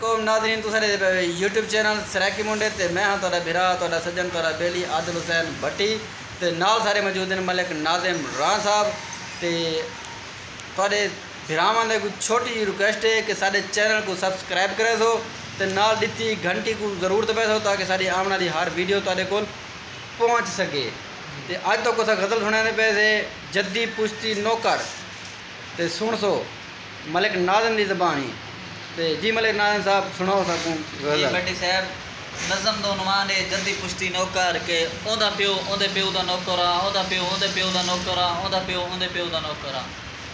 علیکم ناظرین تساں ݙیکھدے پئے ہو یوٹیوب چینل سرائیکی منڈے تے میں ہاں تہاݙا بھرا تہاݙا سڄݨ تہاݙا ٻیلی عادل حسین بھٹی تے نال سارے موجود ہن ملک ناظم راں صاحب تے تہاݙے بھراواں دے کوئی چھوٹی جی ریکویسٹ ہے کہ ساݙے چینل کوں سبسکرائب کریسو تے نال ݙتی گھنٹی کوں ضرور دبیسو تاکہ ساݙی آوݨ آلی ہر ویڈیو تہاݙے کول پہنچ سڳے تے اڄ تہاکوں اساں غزل سݨیندے پئے سے جدی پشتی نوکر تے سݨسو۔ ملک ناظم دی زبان ہی تے جی ملک ناظم صاحب سنڑاؤ ساکوں غزل۔ جی بھٹی صاحب نظم دا عنوان ہے جدی پشتی نوکر کہ اوندا پیو اوندے پیو دا نوکر آ اوندا پیو اوندے پیو دا نوکر آ اوندا پیو اوندے پیو دا نوکر آ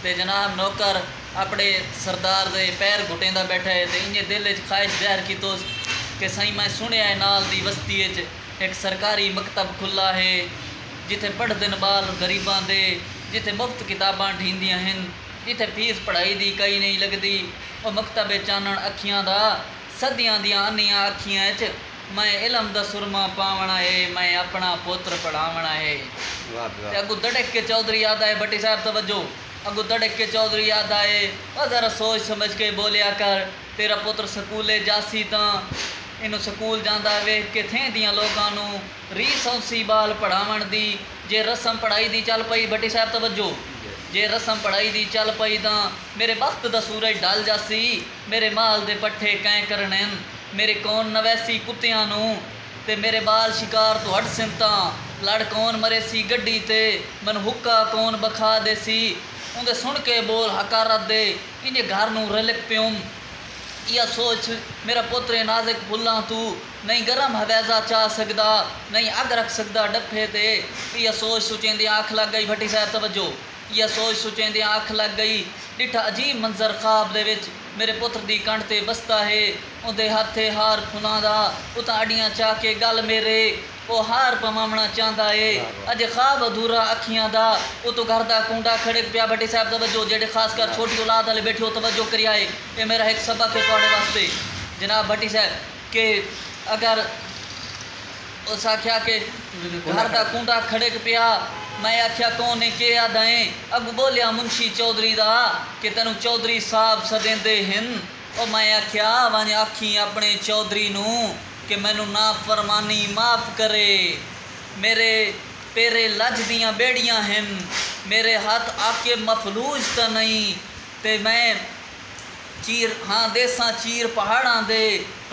تے جناب نوکر اپنے سردار دے پیر گھٹیندا بیٹھا ہے تے انجے دل اچ خواہش ظاہر کیتوس کہ سائیں میں سنڑیا ہے نال دی وستی اچ ہک سرکاری مکتب کھلا ہے جتھے پڑھدن بال غریباں دے جتھے مفت کتاباں ڈھیندیاں ہن۔ جتھے فیس پڑھائی دی کئی نئیں لگدی او مکتب اے چانݨ اکھیاں دا صدیاں دیاں انھیاں اکھیاں اچ میں علم دا سرما پاوݨا اے میں اپݨا پتر پڑھاوݨا اے تے اڳوں دڑک کے چوہدری آہدا اے بھٹی صاحب توجہ اڳوں دڑک کے چوہدری آہدا اے او ذرا سوچ سمجھ کے ٻولیا کر تیرا پتر سکولے جاسی تاں اینوں سکول جاندا ویکھ کے تھیں دیاں لوکاں نوں ری سونسی بال پڑھاونڑ دی جے رسم پڑھائی دی چل پئی بھٹی صاحب توجہ جے رسم پڑھائی دی چل پئی تاں میرے بخت دا سورج ڈھل جاسی میرے مال دے پٹھے کئیں کرنڑین میرے کون نویسی کتیاں نوں تے میرے بال شکار توں ہٹسن تاں لڑ کون مریسی گڈی تے مینوں حقہ کون بکھا دیسی اوندے سنڑ کے بول حقارت دے انجے گھر نوں رلک پیوم ایہا سوچ میرا پتر اے نازک پھلاں توں نئیں گرم حویضہ چا سگدا نئیں اگ رکھ سگدا ڈپھے تے ایہا سوچ سوچیندیاں اکھ لگ گئی بھٹی صاحب توجہ ایہا سوچ سوچیندیاں اکھ لگ گئی ڈٹھا عجیب منظر خواب دے وچ میرے پتر دی کنڈھ تے بستا ہے اوندے ہتھ ہے ہار پھلاں دا اتاں اڈیاں چا کے گل میرے او ہار پواونا چاہندا ہے اجے خواب ادھورا اکھیاں دا اتوں گھر دا کونڈا کھڑک پیا بھٹی صاحب توجہ جیہڑے خاص کر چھوٹی اولاد آلے بیٹھے او توجہ کریا اے اے میرا ہک سبق ہے تہاڈے واسطے جناب بھٹی صاحب۔ کہ اگر اس آکھیا کہ گھر دا کونڈا کھڑک پیا میں آکھیا کون ہے کے آدھا ہیں اگوں بولیا منشی چوہدری دا کہ تینوں چوہدری صاحب سدیندے ہن او میں آکھیا ونج آکھیں اپنے چوہدری نوں کہ مینوں نافرمانی معاف کرے میرے پیرے لج دیاں بیڑیاں ہن میرے ہتھ عاقب مفلوج تاں نئیں تے میں چیر ہاں دیساں چیر پہاڑاں دے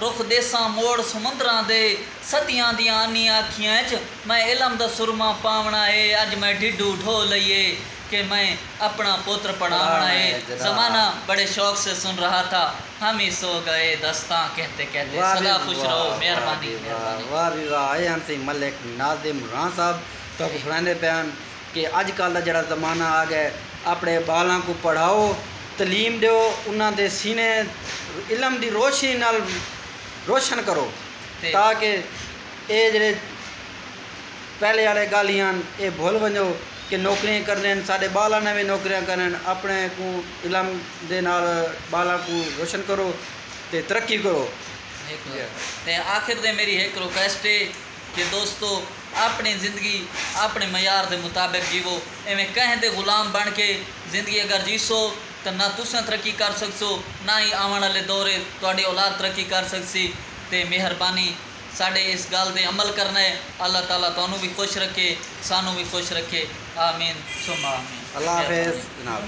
رخ دیساں موڑ سمندراں دے ستیاں دیاں آنی آکھیاں اچ میں علم دا سرمہ پاوݨا اے اج میں ڈھڈو ڈھو لئی اے کہ میں اپݨا پتر پڑھاوݨا اے زمانہ بڑے شوق سے سن رہا تھا ہم ہی سو گئے داستاں کہتے کہتے سدا خوش رہو مہربانی مہربانی۔ واہ وی واہ اے ہن سی ملک ناظم راں صاحب تہاکوں سݨائیندے پئے ہن۔ کہ اج کل دا جیڑھا زمانہ آ گئے اپنے بالاں کوں پڑھاؤ تعلیم ڈیو انہاں دے سینے علم دی روشنی نال روشن کرو تاکہ اے جیڑھے پہلے آلے گالھ ہن اے بھل ونجو کہ نوکریاں کرنن ساڈے بالاں نے وی نوکریاں کرنن اپنے کوں علم دے نال بالاں کوں روشن کرو تے ترقی کرو۔ تے آخر تے میری ہک ریکویسٹ اے۔ کہ دوستو آپݨی زندگی آپݨے معیار دے مطابق جیوو ایویں کہیں دے غلام بݨ کے زندگی اگر جیسو تاں نہ تساں ترقی کر سڳسو نہ ہی آوݨ آلے دور اچ تہاݙی اولاد ترقی کر سڳسی تے مہربانی ساݙے اس ڳالھ دے عمل کرݨا ہے اللہ تعالی تہانوں وی خوش رکھے سانوں وی خوش رکھے آمین ثم آمین اللہ حافظ جناب۔